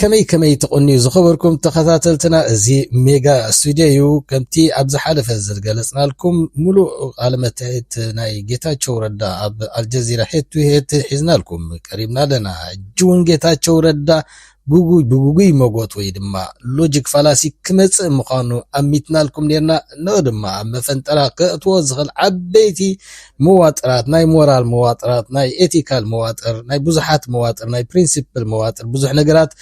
ከመይ ከመይ ትቕንዩ ዝኸበርኩም ተኸታተልትና እዚ ሜጋ ስቱድዮ እዩ ከምቲ ኣብ ዝሓለፈ ዝገለጽናልኩም ምሉእ ቃለ መታየት ናይ ጌታቸው ረዳ ኣብ ኣልጀዚራ ሄድ ቱ ሄድ ሒዝናልኩም ቀሪብና ኣለና ሕጂ እውን ጌታቸው ረዳ ጉጉይ ብጉጉይ መጎት ወይ ድማ ሎጂክ ፋላሲ ክመጽእ ምዃኑ ኣሚትናልኩም ኔርና እነሆ ድማ ኣብ መፈንጠራ ከእትዎ ዝኽእል ዓበይቲ መዋጥራት ናይ ሞራል መዋጥራት ናይ ኤቲካል መዋጥር ናይ ብዙሓት መዋጥር ናይ ፕሪንሲፕል መዋጥር ብዙሕ ነገራት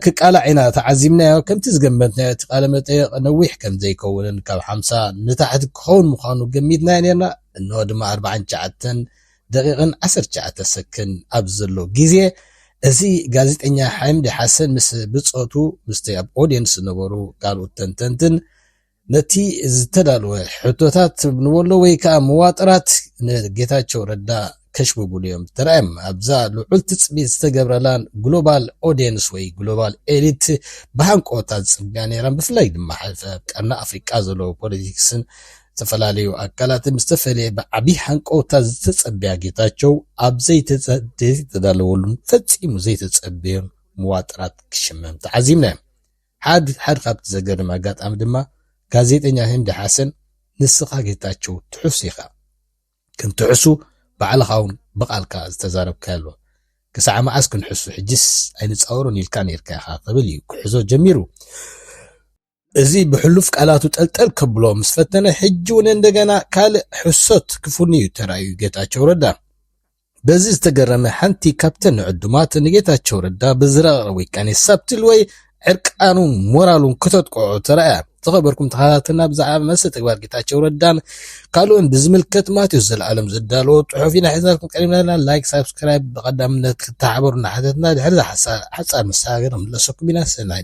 ክቃላዕ ኢና ተዓዚብናዮ ከምቲ ዝገመትናዮ እቲ ቃለ መጠየቕ ነዊሕ ከም ዘይከውንን ካብ ሓምሳ ንታሕቲ ክኸውን ምዃኑ ገሚትናዮ ነርና እንሆ ድማ ኣርባዓን ትሽዓተን ደቂቕን ዓሰርተ ትሽዓተ ሰክን ኣብዚ ዘሎ ግዜ እዚ ጋዜጠኛ ሓምዲ ሓሰን ምስ ብፆቱ ምስቲ ኣብ ኦድየንስ ዝነበሩ ካልኦት ተንተንትን ነቲ ዝተዳለወ ሕቶታት ንበሎ ወይ ከዓ መዋጥራት ንጌታቸው ረዳ ከሽብብሉ እዮም ተራእዮም። ኣብዛ ልዑል ትፅቢት ዝተገብረላን ግሎባል ኦዲየንስ ወይ ግሎባል ኤሊት ብሃንቆታ ዝፅብያ ነይራን ብፍላይ ድማ ሕልፈ ቀርኒ ኣፍሪቃ ዘለዎ ፖለቲክስን ዝተፈላለዩ ኣካላት ምስ ተፈለየ ብዓብዪ ሃንቀውታ ዝተጸበያ ጌታቸው ኣብ ዘይተዳለወሉን ፈጺሙ ዘይተጸበዮን መዋጥራት ክሽመም ተዓዚብና ሓድ ሓድ ካብቲ ዘገርም ኣጋጣሚ ድማ ጋዜጠኛ ህንዲ ሓሰን ንስኻ ጌታቸው ትሑስ ኢኻ ከም ትሑሱ ባዕልኻውን ብቓልካ ዝተዛረብካዮ ኣሎ ክሳዕ መዓስ ክንሕሱ ሕጅስ ኣይንጻወሮን ኢልካ ኔርካ ኢኻ ክብል እዩ ክሕዞ ጀሚሩ እዚ ብሕሉፍ ቃላቱ ጠልጠል ከብሎ ምስ ፈተነ ሕጂ እውን እንደገና ካልእ ሕሶት ክፉንዩ ተራእዩ ጌታቸው ረዳ በዚ ዝተገረመ ሓንቲ ካብተን ንዕዱማት ንጌታቸው ረዳ ብዝረቐቐ ውቃኔ ሳብቲል ወይ ዕርቃኑን ሞራሉን ክተጥቅዖ ተራእያ። ዝኸበርኩም ተኸታተልና ብዛዕባ መሰል ተግባር ጌታቸው ረዳን ካልኦን ብዝምልከት ማቴዎስ ዘለኣለም ዘዳለዎ ጽሑፍ ኢና ሒዝናልኩም ቀሪብና ኣለና። ላይክ፣ ሳብስክራይብ ብቐዳምነት ክተሓበሩ እናሓተትና ድሕሪ ሓጻር መሰጋገሪ ንመለሰኩም ኢና። ሰናይ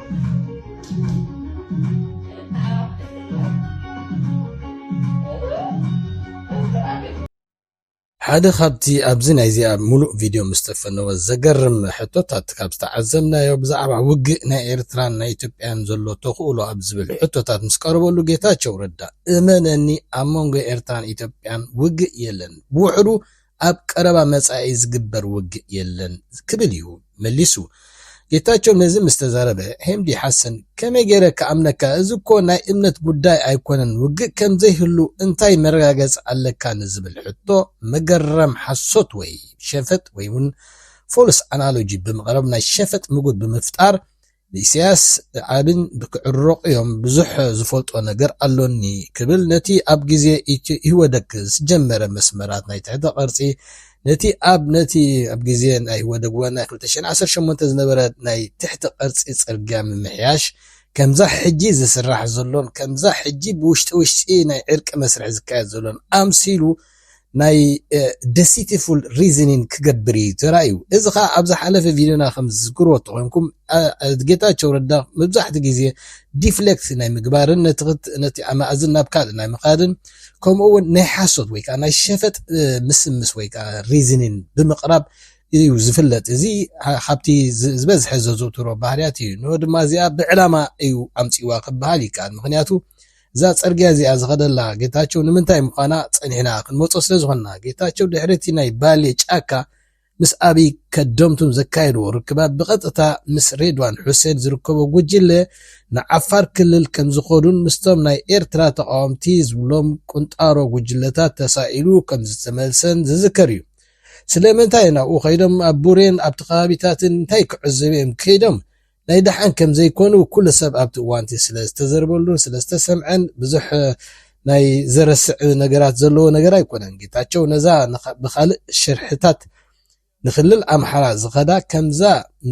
ሓደ ካብቲ ኣብዚ ናይዚኣ ሙሉእ ቪድዮ ምስ ተፈነወ ዘገርም ሕቶታት ካብ ዝተዓዘብናዮ ብዛዕባ ውግእ ናይ ኤርትራን ናይ ኢትዮጵያን ዘሎ ተኽእሎ ኣብ ዝብል ሕቶታት ምስ ቀረበሉ ጌታቸው ረዳ እመነኒ ኣብ መንጎ ኤርትራን ኢትዮጵያን ውግእ የለን ብውሕዱ ኣብ ቀረባ መጻኢ ዝግበር ውግእ የለን ክብል እዩ መሊሱ። ጌታቸው ነዚ ምስ ተዛረበ ሄምዲ ሓሰን ከመይ ገይረ ክኣምነካ እዚ እኮ ናይ እምነት ጉዳይ ኣይኮነን ውግእ ከም ዘይህሉ እንታይ መረጋገጺ ኣለካ ንዝብል ሕቶ መገረም ሓሶት ወይ ሸፈጥ ወይውን False Analogy ብምቕራብ ናይ ሸፈጥ ምጉት ብምፍጣር ንኢሳያስ ዓብን ብክዕርቕ ዮም ብዙሕ ዝፈልጦ ነገር ኣሎኒ ክብል ነቲ ኣብ ግዜ ኢህወደግ ዝጀመረ መስመራት ናይ ትሕተ ቅርጺ ነቲ ኣብ ነቲ ኣብ ግዜ ናይ ኢህወደግ ወ ናይ ክልተ ሽሕን ዓሰርተ ሸሞንተን ዝነበረ ናይ ትሕተ ቅርጺ ጽርግያ ምምሕያሽ ከምዛ ሕጂ ዝስራሕ ዘሎን ከምዛ ሕጂ ብውሽጢ ውሽጢ ናይ ዕርቂ መስርሕ ዝካየድ ዘሎን ኣምሲሉ ናይ Deceitful Reasoning ክገብር ኢዩ ተራእዩ። እዚ ከኣ ኣብ ዝሓለፈ ቪድዮና ከም ዝዝክርዎ ተኾይንኩም ጌታቸው ረዳ መብዛሕትኡ ግዜ Deflect ናይ ምግባርን ነቲ ኣማእዝን ናብ ካልእ ናይ ምኻድን ከምኡ እውን ናይ ሓሶት ወይ ከኣ ናይ ሸፈጥ ምስምስ ወይ ከኣ Reasoning ብምቕራብ ኢዩ ዝፍለጥ። እዚ ካብቲ ዝበዝሐ ዘዘውትሮ ባህርያት ኢዩ። ንኦ ድማ እዚኣ ብዕላማ ኢዩ ኣምጺእዋ ክበሃል ይከኣል። ምኽንያቱ እዛ ጽርግያ እዚኣ ዝኸደላ ጌታቸው ንምንታይ ምዃና ጸኒሕና ክንመጾ ስለ ዝኾንና፣ ጌታቸው ድሕሪ እቲ ናይ ባሌ ጫካ ምስ ኣብይ ከደምቱን ዘካየድዎ ርክባት ብቐጥታ ምስ ሬድዋን ሑሴን ዝርከቦ ጉጅለ ንዓፋር ክልል ከም ዝኸዱን ምስቶም ናይ ኤርትራ ተቓወምቲ ዝብሎም ቁንጣሮ ጉጅለታት ተሳኢሉ ከም ዝተመልሰን ዝዝከር እዩ። ስለምንታይ ናብኡ ከይዶም ኣብ ቡሬን ኣብቲ ከባቢታትን እንታይ ክዕዘቡ እዮም ከይዶም? ናይ ደሓን ከም ዘይኮኑ ኩሉ ሰብ ኣብቲ እዋንቲ ስለ ዝተዘርበሉን ስለ ዝተሰምዐን ብዙሕ ናይ ዘረስዕ ነገራት ዘለዎ ነገር ኣይኮነን። ጌታቸው ነዛ ብካልእ ሽርሕታት ንክልል ኣምሓራ ዝኸዳ ከምዛ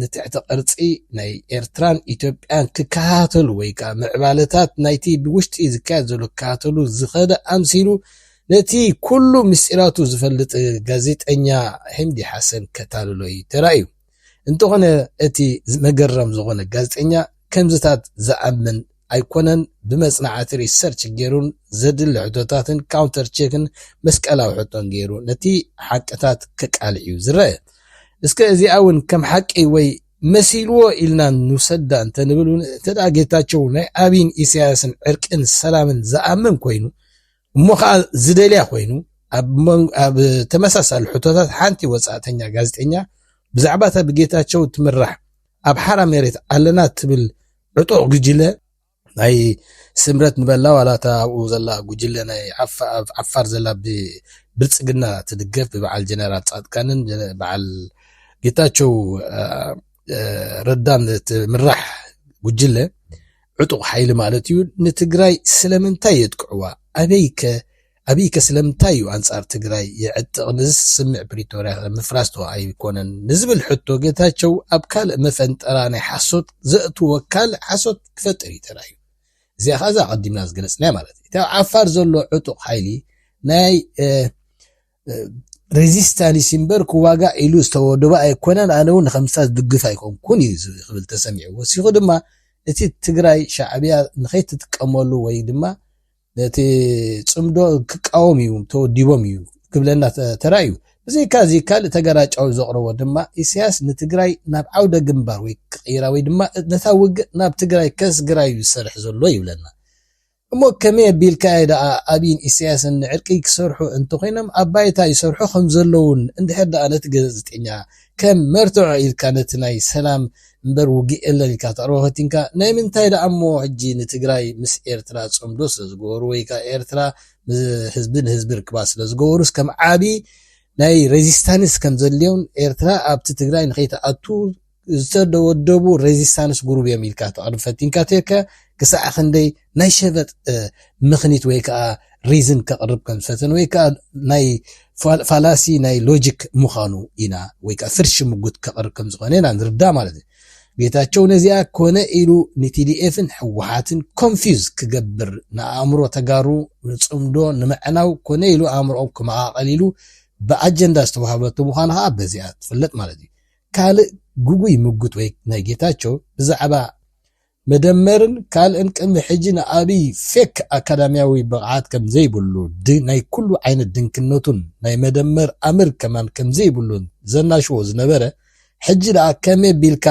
ንትሕቲ ቅርጺ ናይ ኤርትራን ኢትዮጵያን ክከታተሉ ወይ ከኣ ምዕባለታት ናይቲ ብውሽጢ ዝካየድ ዘሎ ክከታተሉ ዝኸደ ኣምሲሉ ነቲ ኩሉ ምስጢራቱ ዝፈልጥ ጋዜጠኛ ሂምዲ ሓሰን ከታልሎይ ተራእዩ። እንተኾነ እቲ መገረም ዝኾነ ጋዜጠኛ ከምዚታት ዝኣምን ኣይኮነን ብመጽናዕቲ ሪሰርች ጌሩን ዘድሊ ሕቶታትን ካውንተር ቼክን መስቀላዊ ሕቶን ጌሩ ነቲ ሓቅታት ከቃልዕ እዩ ዝረኣ እስከ እዚኣ ውን ከም ሓቂ ወይ መሲልዎ ኢልና ንውሰዳ እንተንብል ውን እንተ ጌታቸው ናይ ኣብይን ኢሳያስን ዕርቅን ሰላምን ዝኣምን ኮይኑ እሞ ከኣ ዝደልያ ኮይኑ ኣብ ተመሳሳሊ ሕቶታት ሓንቲ ወጻእተኛ ጋዜጠኛ ብዛዕባ እታ ብጌታቸው እትምራሕ ኣብ ሓራ መሬት ኣለና እትብል ዕጡቕ ጉጅለ ናይ ስምረት ንበላ ዋላ እታ ኣብኡ ዘላ ጉጅለ ናይ ኣብ ዓፋር ዘላ ብብልፅግና ትድገፍ ብበዓል ጀነራል ፃድቃንን በዓል ጌታቸው ረዳን ትምራሕ ጉጅለ ዕጡቕ ሓይሊ ማለት እዩ ንትግራይ ስለምንታይ የጥቅዕዋ ኣበይከ ኣብይከ ስለምንታይ እዩ ኣንጻር ትግራይ የዕጥቕ ንዝስ ስምዕ ፕሪቶርያኸ ምፍራስዶ ኣይኮነን ንዝብል ሕቶ ጌታቸው ኣብ ካልእ መፈንጠራ ናይ ሓሶት ዘእትዎ ካልእ ሓሶት ክፈጥር እዩ ተራእዩ እዚኣ ከኣ እዛ ኣቐዲምና ዝገለጽናያ ማለት እዩ እቲ ኣብ ዓፋር ዘሎ ዕጡቕ ሓይሊ ናይ ሬዚስታንስ እምበር ክዋጋእ ኢሉ ዝተወደበ ኣይኮነን፣ ኣነ እውን ንከምስታ ዝድግፍ ኣይኮንኩን እዩ ክብል ተሰሚዑ። ወሲኹ ድማ እቲ ትግራይ ሻዕብያ ንከይትጥቀመሉ ወይ ድማ ነቲ ፅምዶ ክቃወም እዩ ተወዲቦም እዩ ክብለና ተራእዩ። ብዘይካ እዚ ካልእ ተገራጫዊ ዘቕረቦ ድማ ኢሳያስ ንትግራይ ናብ ዓውደ ግንባር ወይ ክቕይራ ወይ ድማ ነታ ውግእ ናብ ትግራይ ከስግራ እዩ ዝሰርሕ ዘሎ ይብለና። እሞ ከመይ ኣቢልካ'የ ደኣ ኣቢይን ኢሳያስን ንዕርቂ ክሰርሑ እንተኾይኖም ኣብ ባይታ ይሰርሑ ከምዘለዉን እንድሕር ደኣ ነቲ ገዘዝጤኛ ከም መርትዖ ኢልካ ነቲ ናይ ሰላም እምበር ውግእ የለን ኢልካ ተቕርቦ ፈቲንካ ናይ ምንታይ ደኣ'ሞ ሕጂ ንትግራይ ምስ ኤርትራ ጽምዶ ስለዝገበሩ ወይ ከኣ ኤርትራ ምስ ህዝቢ ንህዝቢ ርክባት ስለዝገበሩስ ከም ዓቢ ናይ ረዚስታንስ ከምዘድልዮም ኤርትራ ኣብቲ ትግራይ ንኸይትኣቱ ዝተወደቡ ሬዚስታንስ ጉሩብ እዮም ኢልካ ተቕርብ ፈቲንካ ተከ ክሳዕ ክንደይ ናይ ሸበጥ ምክኒት ወይ ከዓ ሪዝን ከቕርብ ከም ዝፈተን ወይ ከዓ ናይ ፋላሲ ናይ ሎጂክ ምዃኑ ኢና ወይ ከዓ ፍርሺ ምጉት ከቕርብ ከም ዝኾነ ኢና ንርዳ ማለት እዩ ጌታቸው ነዚኣ ኮነ ኢሉ ንቲዲኤፍን ሕወሓትን ኮንፊዝ ክገብር ንኣእምሮ ተጋሩ ንፅምዶ ንምዕናው ኮነ ኢሉ ኣእምሮኦም ክመቓቐል ኢሉ ብኣጀንዳ ዝተዋሃበቱ ምዃኑ ከዓ በዚኣ ትፍለጥ ማለት እዩ ካልእ ግጉይ ምጉት ወይ ናይ ጌታቸው ብዛዕባ መደመርን ካልእን ቅድሚ ሕጂ ንኣብይ ፌክ ኣካዳሚያዊ ብቕዓት ከምዘይብሉ ናይ ኩሉ ዓይነት ድንክነቱን ናይ መደመር ኣምር ከማን ከምዘይብሉን ዘናሽዎ ዝነበረ ሕጂ ደኣ ከመይ ቢልካ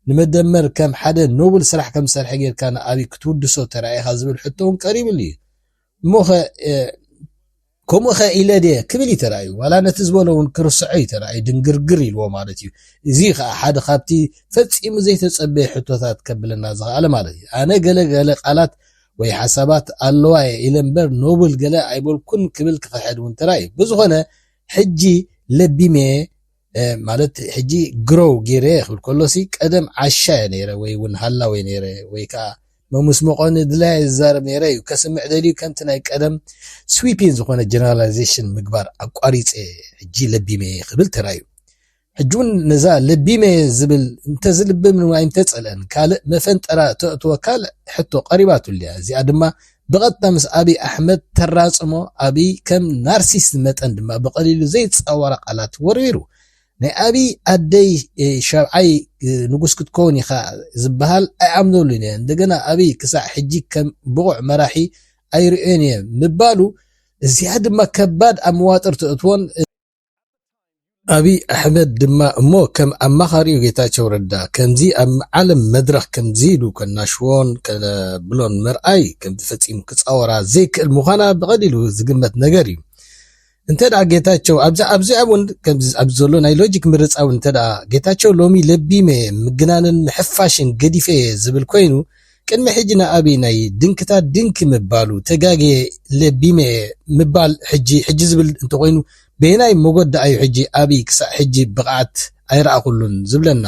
ንመደመር ከም ሓደ ኖብል ስራሕ ከምዝሰርሐ ጌርካ ንኣብይ ክትውድሶ ተራኢኻ ዝብል ሕቶውን ቀሪብሉ እዩ። እሞኸ ከምኡኸ ኢለ ድየ ክብል እዩ ተራእዩ ዋላ ነቲ ዝበሎ እውን ክርስዖ እዩ ተራእዩ ድንግርግር ኢልዎ ማለት እዩ እዚ እዩ ከዓ ሓደ ካብቲ ፈፂሙ ዘይተፀበየ ሕቶታት ከብለና ዝኸኣለ ማለት እዩ ኣነ ገለ ገለ ቃላት ወይ ሓሳባት ኣለዋ እየ ኢለ እምበር ኖብል ገለ ኣይበልኩን ክብል ክኽሕድ እውን ተራእዩ ብዝኾነ ሕጂ ለቢመ ማለት ሕጂ ግሮው ጌረ ክብል ከሎሲ ቀደም ዓሻ እየ ነይረ ወይ ውን ሃላው እየ ነይረ ወይ ከኣ መሙስምቆ ንድላይ እየ ዝዛረብ ነይረ እዩ ከስምዕ ደልዩ ከምቲ ናይ ቀደም ስዊፒን ዝኾነ ጀነራላይዜሽን ምግባር ኣቋሪጸ ሕጂ ለቢመ እየ ክብል ተራዩ ሕጂ ውን ነዛ ለቢመ እየ ዝብል እንተዝልብም ወይ እንተጸልአን ካልእ መፈንጠራ ተእትወካ ሕቶ ቀሪባትሉ እያ እዚኣ ድማ ብቐጥታ ምስ ኣብይ ኣሕመድ ተራጽሞ፣ ኣብይ ከም ናርሲስት መጠን ድማ ብቐሊሉ ዘይጻወራ ቃላት ወርዊሩ። ናይ ኣብይ ኣደይ ሻብዓይ ንጉስ ክትከውን ኢኻ ዝበሃል ኣይኣምነሉን እየ፣ እንደገና ኣብይ ክሳዕ ሕጂ ከም ብቑዕ መራሒ ኣይርእዮን እየ ምባሉ፣ እዚኣ ድማ ከባድ ኣብ መዋጥር ተእትዎን፣ ኣብይ ኣሕመድ ድማ እሞ ከም ኣማኻሪኡ ጌታቸው ረዳ ከምዚ ኣብ ዓለም መድረኽ ከምዚ ኢሉ ከናሽዎን ከብሎን ምርኣይ ከምዚ ፈፂሙ ክፃወራ ዘይክእል ምዃና ብቐሊሉ ዝግመት ነገር እዩ። እንተ ጌታቸው ኣብዚኣ እውን ኣብዚ ዘሎ ናይ ሎጂክ ምርጻ እውን እንተ ጌታቸው ሎሚ ለቢመ ምግናንን ምሕፋሽን ገዲፈየ ዝብል ኮይኑ ቅድሚ ሕጂ ንኣብይ ናይ ድንክታት ድንኪ ምባሉ ተጋግየ ለቢመየ ምባል ሕጂ ሕጂ ዝብል እንተኾይኑ በየናይ ሞጎት ድኣዩ ሕጂ ኣብይ ክሳዕ ሕጂ ብቅዓት ኣይረኣኹሉን ዝብለና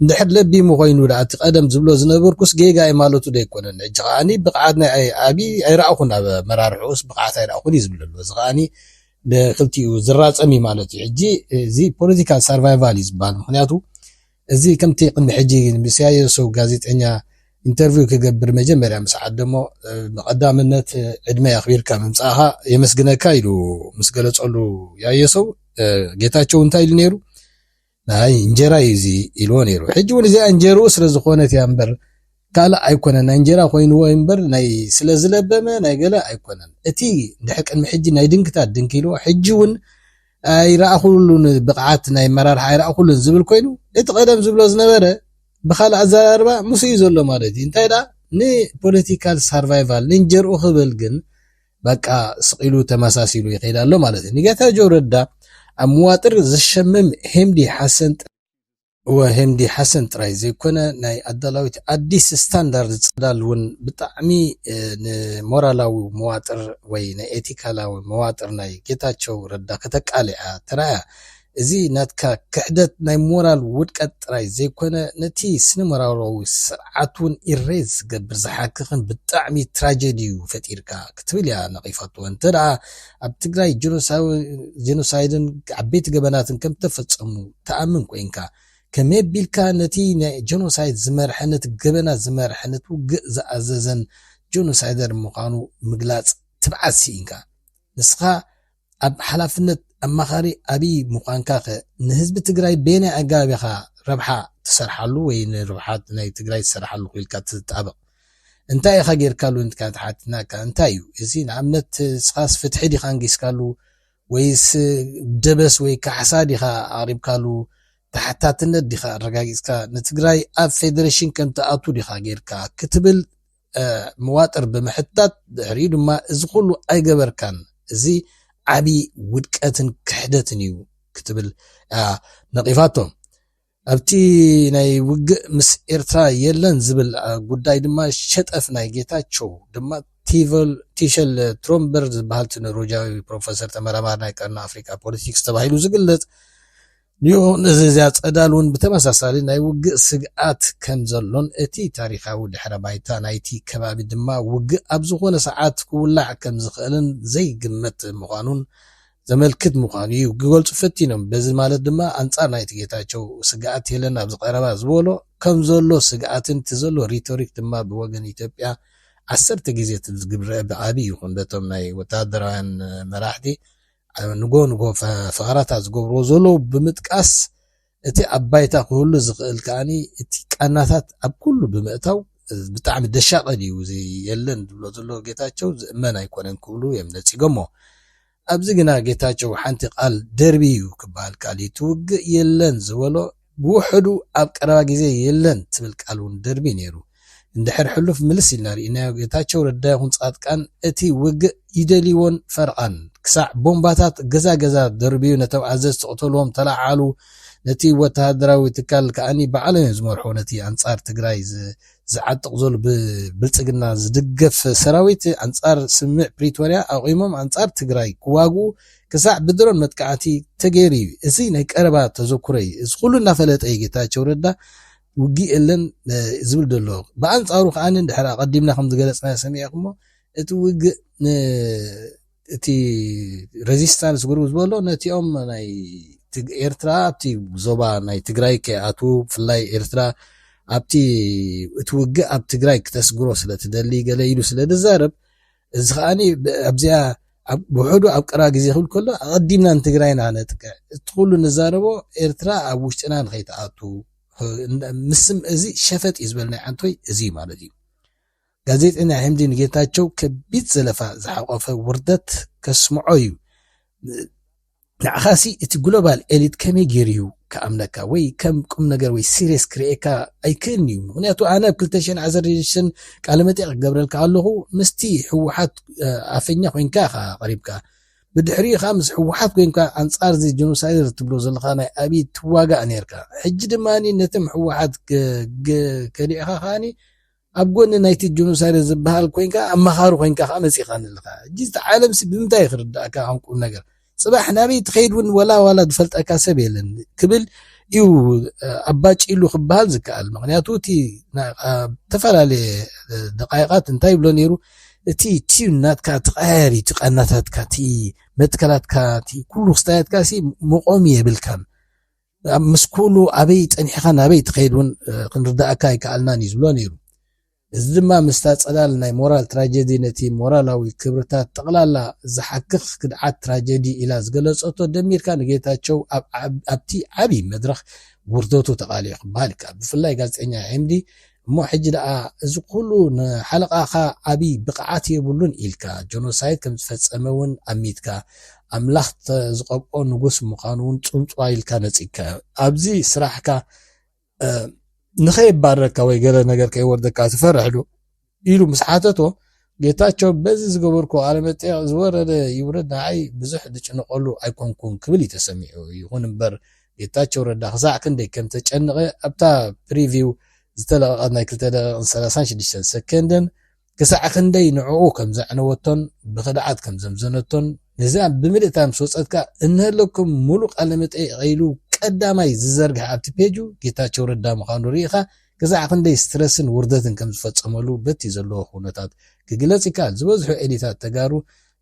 እንድሕር ለቢሙ ኮይኑ ድኣ እቲ ቀደም ዝብሎ ዝነበርኩስ ጌጋየ ማለቱ ዶ ኣይኮነን ሕጂ ከኣ ብቅዓት ናይ ኣብይ ኣይረኣኹን ኣብ ኣመራርሕኡስ ብቅዓት ኣይረኣኹን እዩ ዝብል ዘሎ እዚ ከኣ ንክልቲኡ ዝራጸም እዩ ማለት እዩ ሕጂ እዚ ፖለቲካል ሳርቫይቫል እዩ ዝብሃል ምኽንያቱ እዚ ከምቲ ቅድሚ ሕጂ ንብስያየሱ ጋዜጠኛ ኢንተርቪው ክገብር መጀመርያ ምስ ዓደሞ ብቐዳምነት ዕድመይ ኣኽቢርካ ምምጻእኻ የመስግነካ ኢሉ ምስ ገለጸሉ ያየሱ ጌታቸው እንታይ ኢሉ ነይሩ ናይ እንጀራ እዩ እዚ ኢልዎ ነይሩ ሕጂ እውን እዚኣ እንጀርኡ ስለ ዝኾነት እያ እምበር ካልእ ኣይኮነን ናይ እንጀራ ኮይንዎ እምበር ናይ ስለ ዝለበመ ናይ ገለ ኣይኮነን እቲ ድሕር ቅድሚ ሕጂ ናይ ድንክታት ድንኪ ኢልዎ ሕጂ እውን ኣይረኣኹሉን ብቕዓት ናይ ኣመራርሓ ኣይረኣኹሉን ዝብል ኮይኑ እቲ ቀደም ዝብሎ ዝነበረ ብኻልእ ኣዘራርባ ምስ እዩ ዘሎ ማለት እዩ እንታይ ደኣ ንፖለቲካል ሳርቫይቫል ንእንጀርኡ ክብል ግን በቃ ስቂሉ ተመሳሲሉ ይኸይድ ኣሎ ማለት እዩ ንጌታቸው ረዳ ኣብ መዋጥር ዝሸምም ሄምዲ ሓሰን እወ ሄምዲ ሓሰን ጥራይ ዘይኮነ ናይ ኣዳላዊት ኣዲስ ስታንዳርድ ጽላል እውን ብጣዕሚ ንሞራላዊ መዋጥር ወይ ንኤቲካላዊ መዋጥር ናይ ጌታቸው ረዳ ከተቃልዓ ተራእያ። እዚ ናትካ ክሕደት ናይ ሞራል ውድቀት ጥራይ ዘይኮነ ነቲ ስነሞራላዊ ስርዓት እውን ኢሬዝ ዝገብር ዝሓክኽን ብጣዕሚ ትራጀዲ እዩ ፈጢርካ ክትብል እያ ነቒፋቶ። እንተደኣ ኣብ ትግራይ ጀኖሳይድን ዓበይቲ ገበናትን ከም እተፈጸሙ ትኣምን ኮይንካ፣ ከመይ ኣቢልካ ነቲ ናይ ጀኖሳይድ ዝመርሐን ነቲ ገበናት ዝመርሐን ነቲ ውግእ ዝኣዘዘን ጀኖሳይደር ምዃኑ ምግላጽ ትብዓት ስኢንካ? ንስኻ ኣብ ሓላፍነት ኣማኻሪ ኣብይ ምዃንካኸ ንህዝቢ ትግራይ በየናይ ኣገባብ ኢኻ ረብሓ ትሰርሓሉ ወይ ንረብሓ ናይ ትግራይ ትሰርሓሉ ኢልካ ትጣበቕ? እንታይ ኢኻ ጌርካሉ እንትካ ትሓትናካ እንታይ እዩ እዚ ንኣብነት ስኻስ ፍትሒ ዲኻ ንጊስካሉ ወይስ ደበስ ወይ ካሕሳ ዲኻ ኣቕሪብካሉ ተሓታትነት ዲኻ ኣረጋጊጽካ ንትግራይ ኣብ ፌደሬሽን ከም ትኣቱ ዲኻ ጌርካ ክትብል መዋጥር ብምሕታት ድሕሪኡ ድማ እዚ ኩሉ ኣይገበርካን እዚ ዓብዪ ውድቀትን ክሕደትን እዩ ክትብል ነቒፋቶም ኣብቲ ናይ ውግእ ምስ ኤርትራ የለን ዝብል ጉዳይ ድማ ሸጠፍ ናይ ጌታቸው ድማ ቲሸል ትሮምበርግ ዝበሃል እቲ ኖርወጃዊ ፕሮፈሰር ተመራማሪ ናይ ቀርኒ ኣፍሪቃ ፖለቲክስ ተባሂሉ ዝግለጽ ኒዮ ነዚዚያ ጸዳል እውን ብተመሳሳሊ ናይ ውግእ ስግኣት ከም ዘሎን እቲ ታሪኻዊ ድሕረ ባይታ ናይቲ ከባቢ ድማ ውግእ ኣብ ዝኾነ ሰዓት ክውላዕ ከም ዝኽእልን ዘይግመት ምዃኑን ዘመልክት ምዃኑ እዩ ክገልጹ ፈቲኖም። በዚ ማለት ድማ ኣንጻር ናይቲ ጌታቸው ስግኣት የለን ኣብዚ ቀረባ ዝበሎ ከምዘሎ ስግኣትን እቲ ዘሎ ሪቶሪክ ድማ ብወገን ኢትዮጵያ ዓሰርተ ግዜ ትዝግብረዐ ብዓቢ ይኹን በቶም ናይ ወተሃደራውያን መራሕቲ ንጎ ንጎ ፈኸራታት ዝገብርዎ ዘለዉ ብምጥቃስ እቲ ኣብ ባይታ ክህሉ ዝኽእል ከኣ እቲ ቃናታት ኣብ ኩሉ ብምእታው ብጣዕሚ ደሻቀ ድዩ እዚ የለን ዝብሎ ዘሎ ጌታቸው ዝእመን ኣይኮነን ክብሉ የም ነጺጎሞ። ኣብዚ ግና ጌታቸው ሓንቲ ቃል ደርብዩ ክበሃል ከኣል እቲ ውግእ የለን ዝበሎ ብውሕዱ ኣብ ቀረባ ግዜ የለን ትብል ቃል ውን ደርብዩ ነይሩ። እንድሕር ሕሉፍ ምልስ ኢልና ሪኢናዮ ጌታቸው ረዳ ይኹን ፃድቃን እቲ ውግእ ይደልይዎን ፈርቓን ክሳዕ ቦምባታት ገዛ ገዛ ደርብዩ ነቶም ኣዘዝቲ ቅተልዎም ተላዓሉ ነቲ ወተሃደራዊ ትካል ከኣኒ ባዕሎም እዮም ዝመርሑ ነቲ ኣንፃር ትግራይ ዝዓጥቕ ዘሎ ብብልፅግና ዝድገፍ ሰራዊት ኣንፃር ስምምዕ ፕሪቶርያ ኣቑሞም ኣንፃር ትግራይ ክዋግኡ ክሳዕ ብድሮን መጥቃዕቲ ተገይሩ እዩ እዚ ናይ ቀረባ ተዘኩረ እዩ እዚ ኩሉ እናፈለጠ እዩ ጌታቸው ረዳ ውግእ የለን ዝብል ዘሎ ብኣንጻሩ ከኣ ድሕር ኣቀዲምና ከም ዝገለጽናዮ ሰሚዕኩሞ እቲ ውግእ እቲ ሬዚስታንስ ግሩ ዝበሎ ነቲኦም ናይ ኤርትራ ኣብቲ ዞባ ናይ ትግራይ ከይኣትዉ ብፍላይ ኤርትራ ኣብቲ እቲ ውግእ ኣብ ትግራይ ክተስግሮ ስለ ትደሊ ገለ ኢሉ ስለ ዝዛረብ እዚ ከኣ ኣብዚኣ ብውሕዱ ኣብ ቀረባ ግዜ ክብል ከሎ ኣቐዲምና ንትግራይና ነጥቅዕ እቲ ኩሉ ንዛረቦ ኤርትራ ኣብ ውሽጥና ንኸይትኣቱ ምስም እዚ ሸፈጥ እዩ ዝበል ናይ ዓንቶይ እዚ እዩ ማለት እዩ። ጋዜጠኛ ሕምዲ ንጌታቸው ከቢድ ዘለፋ ዝሓቆፈ ውርደት ከስምዖ እዩ። ንዓኻሲ እቲ ግሎባል ኤሊት ከመይ ጌሩዩ ክኣምነካ ወይ ከም ቁምነገር ወይ ሲርየስ ክርእየካ ኣይክእልንዩ ምኽንያቱ ኣነ ኣብ ክልተ ሽሕን ዓሰርተ ሽዱሽተን ቃለመጠይቕ ክገብረልካ ከለኹ ምስቲ ህወሓት ኣፈኛ ኮይንካ ኢኻ ቀሪብካ ብድሕሪኡ ከዓ ምስ ህወሓት ኮይንካ ኣንጻር እዚ ጀኖሳይደር ትብሎ ዘለኻ ናይ ኣብይ ትዋጋእ ኔርካ ሕጂ ድማ ነቶም ህወሓት ከሊዕኻ ከዓኒ ኣብ ጎኒ ናይቲ ጆኖሳይደር ዝበሃል ኮይንካ ኣማኻሪ ኮይንካ ከኣ መጺኻኒ ኣለኻ ሕጂ እቲ ዓለምሲ ብምንታይ ክርድኣካ ከም ቁም ነገር ጽባሕ ናበይ ትኸይድ ውን ወላ ዋላ ዝፈልጠካ ሰብ የለን ክብል እዩ ኣባጪሉ ክበሃል ዝከኣል ምክንያቱ እቲ ዝተፈላለየ ደቃይቃት እንታይ ይብሎ ነይሩ እቲ ቲዩን ናትካ ትቀያየር እዩ ቃናታትካ እቲ መትከላትካ እቲ ኩሉ ክስታያትካ ሲ መቆሚ የብልካን ምስ ኩሉ ኣበይ ጸኒሕኻ ናበይ ትኸይድ እውን ክንርድኣካ ኣይከኣልናን እዩ ዝብሎ ነይሩ። እዚ ድማ ምስታ ጸላል ናይ ሞራል ትራጀዲ ነቲ ሞራላዊ ክብርታት ጠቕላላ ዝሓክኽ ክድዓት ትራጀዲ ኢላ ዝገለጸቶ ደሚርካ ንጌታቸው ኣብ ኣብቲ ዓቢ መድረኽ ውርደቱ ተቓሊዑ ክበሃል ይከኣል። ብፍላይ ጋዜጠኛ ኤምዲ እሞ ሕጂ ደኣ እዚ ኩሉ ንሓለቓኻ ዓቢ ብቕዓት የብሉን ኢልካ ጆኖሳይድ ከም ዝፈጸመ ውን ኣሚትካ ኣምላኽ ዝቐብኦ ንጉስ ምዃኑ ውን ጽውጽዋይ ኢልካ ነጺግካዮ ኣብዚ ስራሕካ ንኸየባረካ ወይ ገለ ነገር ከይወርደካ ትፈርሕዶ ኢሉ ምስ ሓተቶ ጌታቸው በዚ ዝገበርኩዎ ቃለመጠይቕ ዝወረደ ይውረድ ንዓይ ብዙሕ ዝጭነቐሉ ኣይኮንኩን ክብል እዩ ተሰሚዑ። ይኹን እምበር ጌታቸው ረዳ ክሳዕ ክንደይ ከምተጨነቐ ኣብታ ፕሪቪው ዝተለቐቐት ናይ ክልተ ደቂቕን ሰላሳን ሽዱሽተን ሰከንድን ክሳዕ ክንደይ ንዕኡ ከም ዘዕነወቶን ብኽድዓት ከም ዘምዘነቶን ነዚኣ ብምልእታ ምስ ወፀት ከዓ እንሀለኩም ሙሉእ ቃለመጠይቕ ኢሉ ቀዳማይ ዝዘርግሐ ኣብቲ ፔጁ ጌታቸው ረዳ ምዃኑ ርኢኻ ክሳዕ ክንደይ ስትረስን ውርደትን ከም ዝፈጸመሉ በቲ ዘለዎ ኩነታት ክግለጽ ይከኣል። ዝበዝሑ ኤሊታት ተጋሩ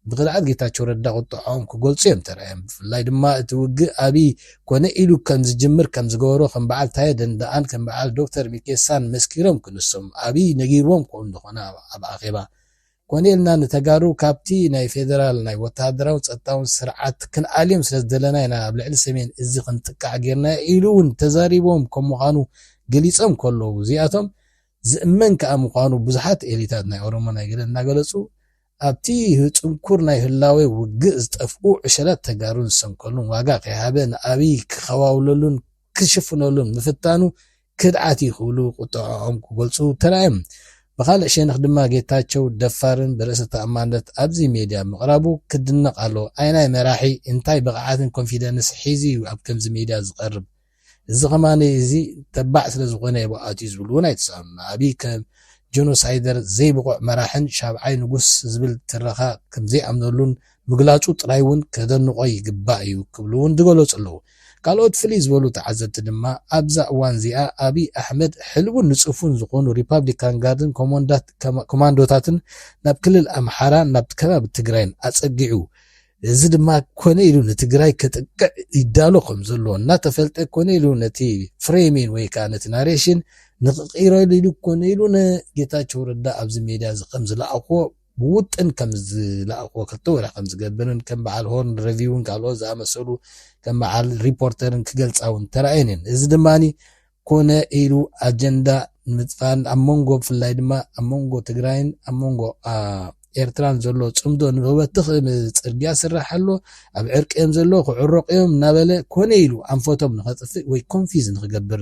ብቅልዓት ጌታቸው ረዳ ቁጠዐኦም ክገልጹ እዮም ተራእዮም። ብፍላይ ድማ እቲ ውግእ ኣብይ ኮነ ኢሉ ከም ዝጅምር ከም ዝገበሮ ከም በዓል ታየ ደንደኣን ከም በዓል ዶክተር ሚኬሳን መስኪሮም ክንሶም ኣብይ ነጊርዎም ክኾኑ ዝኾነ ኣብ ኣኼባ ኮነ ኢልና ንተጋሩ ካብቲ ናይ ፌደራል ናይ ወተሃደራውን ጸጥታውን ስርዓት ክንኣልዮም ስለ ዝደለና ኢና ኣብ ልዕሊ ሰሜን እዚ ክንጥቃዕ ጌርናዮ ኢሉ እውን ተዛሪቦም ከም ምዃኑ ገሊጾም ከለዉ እዚኣቶም ዝእመን ከኣ ምዃኑ ብዙሓት ኤሊታት ናይ ኦሮሞ ናይ ገለ እናገለጹ ኣብቲ ጽንኩር ናይ ህላዌ ውግእ ዝጠፍኡ ዕሸላት ተጋሩን ዝሰንከሉን ዋጋ ከይሃበ ንኣብይ ክኸዋውለሉን ክሽፍነሉን ምፍታኑ ክድዓት እዩ ክብሉ ቁጠዐኦም ክገልፁ ተራእዮም። ብኻልእ ሸነኽ ድማ ጌታቸው ደፋርን ብርእሰ ተኣማንነት ኣብዚ ሜድያ ምቕራቡ ክድነቕ ኣለዎ። ኣይናይ መራሒ እንታይ ብቕዓትን ኮንፊደንስ ሒዙ እዩ ኣብ ከምዚ ሜድያ ዝቐርብ? እዚ ከማን እዚ ተባዕ ስለዝኾነ እየ ኣትዩ ዝብሉ እውን ኣይተሳእኑን። ንኣብይ ከም ጀኖሳይደር፣ ዘይብቑዕ መራሕን ሻብዓይ ንጉስ ዝብል ትረኻ ከምዘይኣምነሉን ምግላጹ ጥራይ እውን ከደንቖ ይግባእ እዩ ክብሉ እውን ዝገለጹ ኣለዉ። ካልኦት ፍልይ ዝበሉ ተዓዘብቲ ድማ ኣብዛ እዋን እዚኣ ኣብይ ኣሕመድ ሕልውን ንጹፉን ዝኾኑ ሪፓብሊካን ጋርድን ኮማንዶታትን ናብ ክልል ኣምሓራን ናብ ከባቢ ትግራይን ኣጸጊዑ እዚ ድማ ኮነ ኢሉ ንትግራይ ከጥቅዕ ይዳሎ ከም ዘሎ እናተፈልጠ ኮነ ኢሉ ነቲ ፍሬሚን ወይ ከዓ ነቲ ናሬሽን ንክቕይረሉ ኢሉ ኮነ ኢሉ ንጌታቸው ረዳ ኣብዚ ሜድያ እዚ ከም ዝለኣኽዎ ብውጥን ከም ዝለኣኽዎ ክልተ ወርሒ ከም ዝገብርን ከም በዓል ሆርን ረቪውን ካልኦት ዝኣመሰሉ ከም በዓል ሪፖርተርን ክገልጻ እውን ተራእየን እየን። እዚ ድማ ኮነ ኢሉ ኣጀንዳ ንምጥፋእን ኣብ መንጎ ብፍላይ ድማ ኣብ መንጎ ትግራይን ኣብ መንጎ ኤርትራን ዘሎ ፅምዶ ንክበትኽ ፅርግያ ስራሕ ኣሎ ኣብ ዕርቂ እዮም ዘለዎ ክዕረቑ እዮም እናበለ ኮነ ኢሉ ኣንፈቶም ንኸጥፍእ ወይ ኮንፊዝ ንክገብር